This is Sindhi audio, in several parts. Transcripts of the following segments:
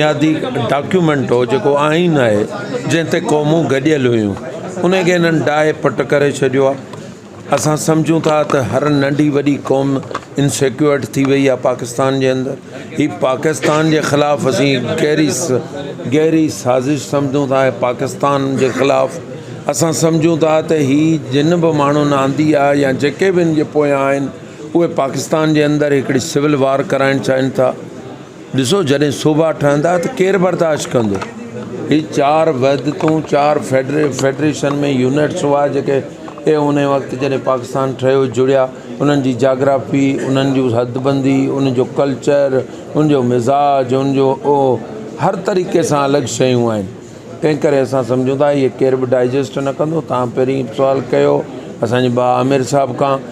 بنيادي ڊاڪيومينٽ هو جيڪو آئين آهي، جنهن تي قومون گڏيل هيون، ان کي هنن ڊاهي پٽ ڪري ڇڏيو آهي. اسان سمجهون ٿا ته هر ننڍي وڏي قوم انسيڪيورڊ ٿي وئي آهي پاڪستان جي اندر. هي پاڪستان جي خلاف اسين گهري گهري سازش سمجهون ٿا ۽ پاڪستان جي خلاف اسان سمجهون ٿا ته هي جن به ماڻهن آندي آهي يا جيڪي به ان جي پويان آهن اهي پاڪستان جي اندر هڪڙي سول وار ڪرائڻ چاهين ٿا. ڏسو جڏهن صوبا ٺهندا ته ڪير برداشت ڪندو؟ هي چار وحدتون، چار فيڊريشن ۾ يونٽس هئا جيڪي اهي ان وقت جڏهن پاڪستان ٺهيو جڙيا، انهن جي جاگرافي، انهن جون حدبندي، انهن جو ڪلچر، انهن جو مزاج، انهن جو اهو هر طريقي سان الڳ شيون آهن. تنهن ڪري اسان سمجهون ٿا اهي ڪير به ڊائجسٽ نه ڪندو، تهان پهرين سوال ڪيو اسان جي ڀاء عامر صاحب کان.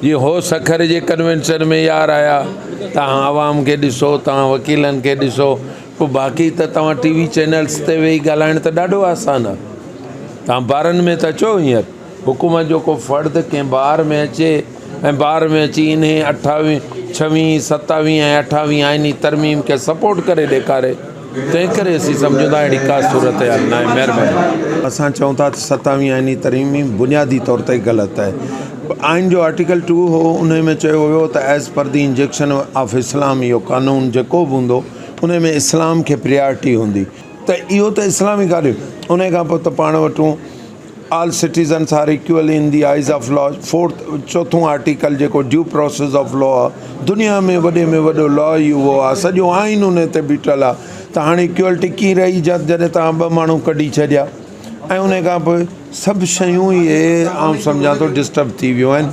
جي هو سکر جي ڪنوينشن ۾ يار آيا توهان عوام کي ڏسو توهان وڪيلن کي ڏسو پوء باقي ته توهان ٽي وي چينلز تي ويهي ڳالهائڻ ته ڏاڍو آسان آ توهان بارن ۾ ته اچو هينئر حڪومت جو ڪو فرد ڪنهن بار ۾ اچي ۽ بار ۾ اچي انهي اٺاوي ڇوي ستاوي ۽ اٺاوي آئيني ترميم کي سپورٽ ڪري ڏيکاري تنهن ڪري اسين سمجهون ٿا اهڙي ڪا صورتحال ناهي. مهرباني. اسان چئون ٿا ته ستاويهين آئيني ترميم بنيادي طور تي غلط آهي. آئين جو آرٽيڪل ٽو هو انهي ۾ چيو ويو هو ته as per the injunction of Islam اهو قانون جيڪو به هوندو انهي ۾ اسلام کي پريارٽي هوندي ته اهو ته اسلامي ڪاري انهي کان پوء ته پاڻ وٽون all citizens are equal in the eyes of law, fourth, چوٿون آرٽيڪل جيڪو ڊيو پروسيس آف لا آ، دنيا ۾ وڏي ۾ وڏو لا ئي اهو آ، سڄو آئين ان تي بيٺل آ ته هاڻي ايڪوالٽي ڪيئن رهي جڏهن توهان ٻه ماڻهو ڪڍي ڇڏيا ۽ ان کان پوء سڀ شيون ئي آئون سمجهان ٿو ڊسٽرب ٿي ويون آهن.